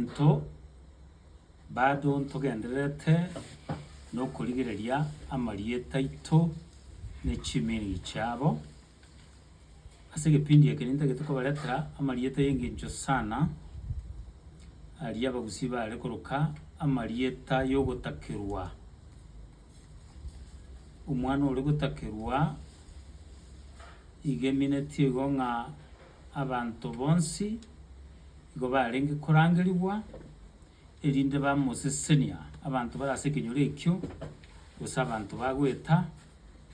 Intwe bado ntogendererete nokorigereria amarieta aito ne chimiiri chiabo. Ase egepindi eke nintagete kobaretera amarieta y'engencho sana, aria abagusii baare koroka amarieta y'ogotakerwa. Omwana ore gotakerwa igeminetie igo ng'a Abanto bonsi igo barenge korangerigwa, erinde bamosesenia abanto bare ase ekenyoro ekio, gose abanto bagweta,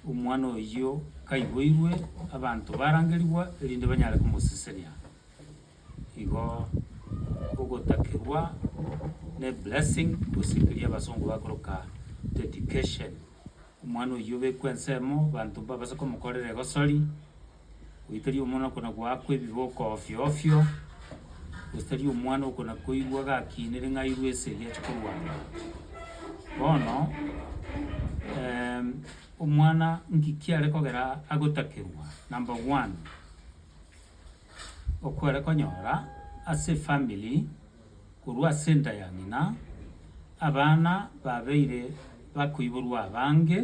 omwana oyio kaiboirwe, abanto barangerigwa erinde banyare komosesenia. Igo ogotakigwa ne blessing, gose keria abasongo bakoroka dedication. Omwana oyio obekwe ensemo, abanto mbabase komokorera egosori, goitaria omwana okona goakwa ebiboko ofio ofio, gose tari omwana okona koigwa gakinire ng'a airwe ase eria ache korwang'ana. Bono omwana nki kiare kogera agotakerwa? Number one, okware konyora ase efamiri. korwa ase enda ya ng'ina, abana babeire bakoiborwa abange,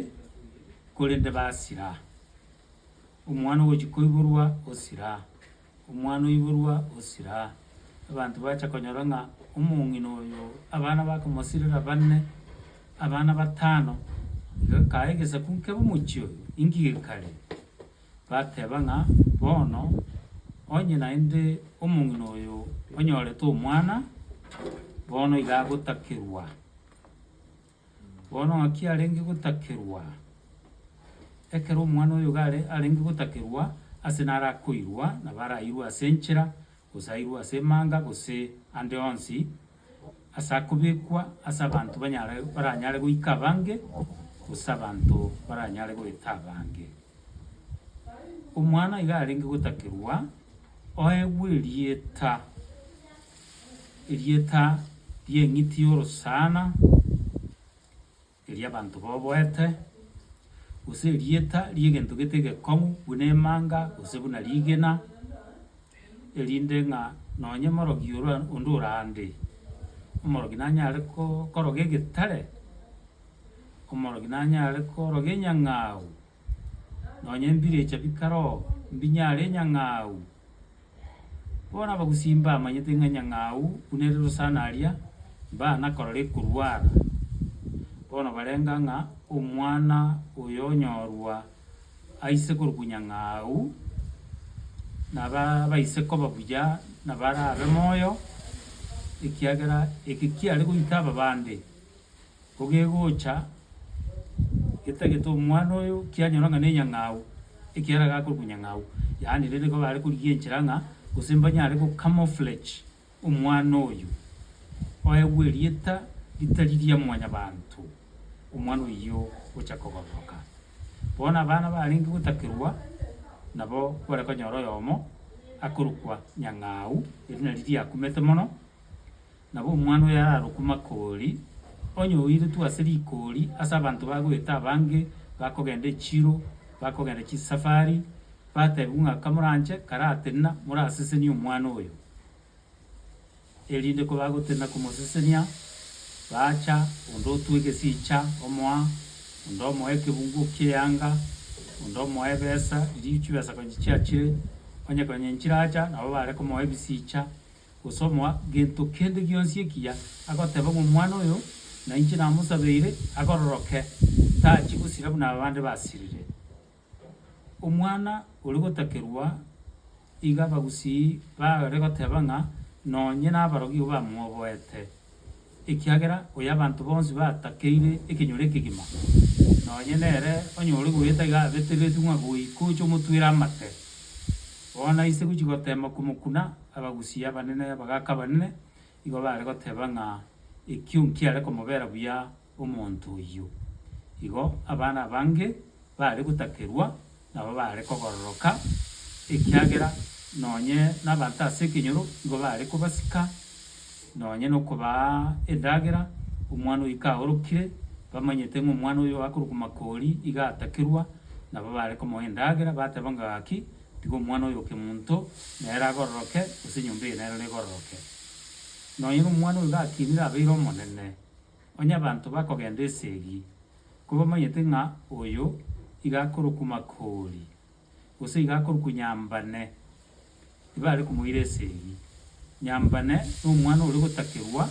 korende basira. Omwana ogochia koiborwa osira, omwana oiborwa osira. Abanto bacha konyora ng'a omong'ina oyo abana bakomosirera bane, abana batano, iga kae egesaku nkebe omochie oyo, inki gekare? Bateba ng'a, Bono, onye naende omong'ina oyo onyorete omwana, bono iga agotakerwa. Bono ng'aki arenge gotakerwa? Ekero omwana oyo iga arenge gotakerwa, ase narakoirwa na barairwe ase enchera, gosairwa ase emanga gose ande onsi as'akobekwa as'abanto banyare baranyare goika abange gose abanto baranyare goeta abange. Omwana iga arenge gotakerwa oegwe erieta, erieta ri'eng'iti y'orosana. eria abanto baboete, gose erieta ri'egento gete egekong'u buna emanga, gose buna rigena, erinde ng'a nonye omorogi oro onde ore ande, omorogi nanyare ko- koroga egetare, omorogi nanyare koroga enyang'au. nonya embirecha bikaroo mbinyare enyang'au. Bono abagusii mbamanyete ng'a enyang'au buna ere rosana aria, mbanakorora ekorwara. Bono barenga ng'a omwana oyo onyorwa aise korokwa nyang'au, naba abaise koba buya nabarabe moyo, ekiagera eke kiare goita ababande. Kogegocha getagete omwana oyo, kianyora ng'a nenyang'au, ekiagera agakorokwa nyang'au, yaani rende nigo bare korigia enchera ng'a gose mbanyare go camouflage omwana oyo, oegwe erieta ritari ria mwanyabanto, omwana oyio ocha kogororoka. Bono abana barenge gotakerwa, nabo kware konyora oyomo akorokwa nyang'au, eri nari riakumete mono. Nabo omwana oyo ararokwe Makori, onye oiretwe ase rikori ase abanto ba goeta abange bakogenda echiro, bakogenda chisafari, bateebigwe ng'a kamoranche karatenena morasesenie omwana oyo. Erinde kobagotenena komosesenia, baacha, onde otwa egesiicha omoa, onde omoa ekebungo ki'eanga, onde omoa ebesa, erio chibesa konya chiachire, onye konya nchiracha, nabo bare komoa ebisiicha. gosomoa gento kende gionsi ekiya agoteba ng'a omwana oyo nainche namosabeire agororoke, tachie gosira buna aba bande basirire. Omwana oria gotakerwa iga abagusii bare goteba ng'a nonye nabarogigwa bamwoboete. Ekiagera oy'abanto bonsi batakeire ekenyoro ekegima, nonye nere onyore goeta iga abeteretwe ng'a goika oche omotwere amate. Bono aise gochia goteema komokuna, abagusi abanene, abagaaka abanene, igo baare goteeba ng'a ekio nkiare komobera buya omonto oyio. Igo abana abange baare gotakerwa, nabo baare kobororoka, ekiagera nonye nabanto ase ekenyoro nigo baare kobasika, nonye nokobaa endagera, omwana oyio kaorokire, bamanyete ng'a omwana oyo akorokwa Makori iga atakerwa, nabo baare komoa endagera, bateba ng'a gaki, tiga omwana oyo okemonto nere abororoke, gose enyomba eye nero nebororoke. Nonye nomwana oyo gakinire abeire omonene. Onye abanto bakogenda esegi, kobamanyete ng'a oyo iga akorokwa Makori, gose iga akorokwa Nyambane, tibare komoira esegi. Nyambane nomwana ore gotakerwa,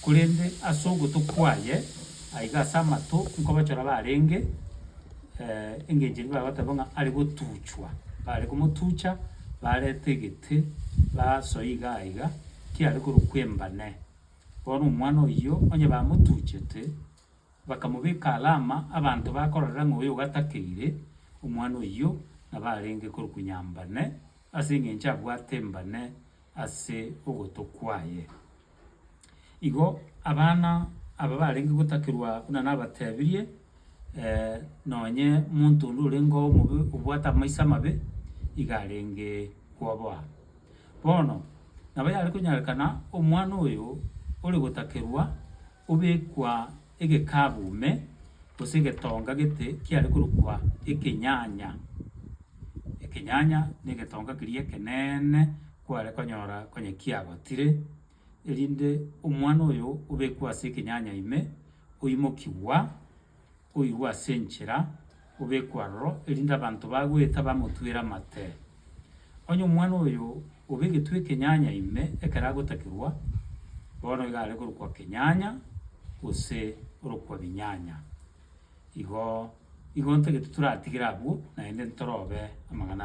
korende ase ogotwa kwaye aiga ase amato nkobachora barenge, engencho eria bagoteba ng'a are gotuchwa. Bare komotucha, bareta egete, basoa iga aiga, kiare korokwa Embane. Bono omwana oyio onye bamotuchete, bakamobeka alama, abanto bakororera ng'a oyo gatakeire, omwana oyio nabo arenge korukunya mbane, ase engencho abwate mbane ase ogoto kwaye. Igo abana aba barenge gotakerwa buna nabatebirie. nonye omonto onde orenge omobe obwate amaiso amabe, iga arenge koboa. Bono, nabo yare konyarekana omwana oyo ore gotakerwa obekwa egekabu ime, gose egetonga gete kiare korokwa ekenyanya. Ekenyanya na egetonga keria ekeneene kware konyora onye kiagotire, erinde omwana oyo obekwe ase ekenyanya ime, oimokigwa, oigwe ase enchera, obekwe aroro, erinde abanto bagoeta bamotwere amate. Onye omwana oyo obegetwe ekenyanya ime ekero agotakigwa, bono iga are korokwa kenyanya, gose orokwa binyanya. Igo, igo ntagete toratigere abwo, naende ntorobe amang'ana.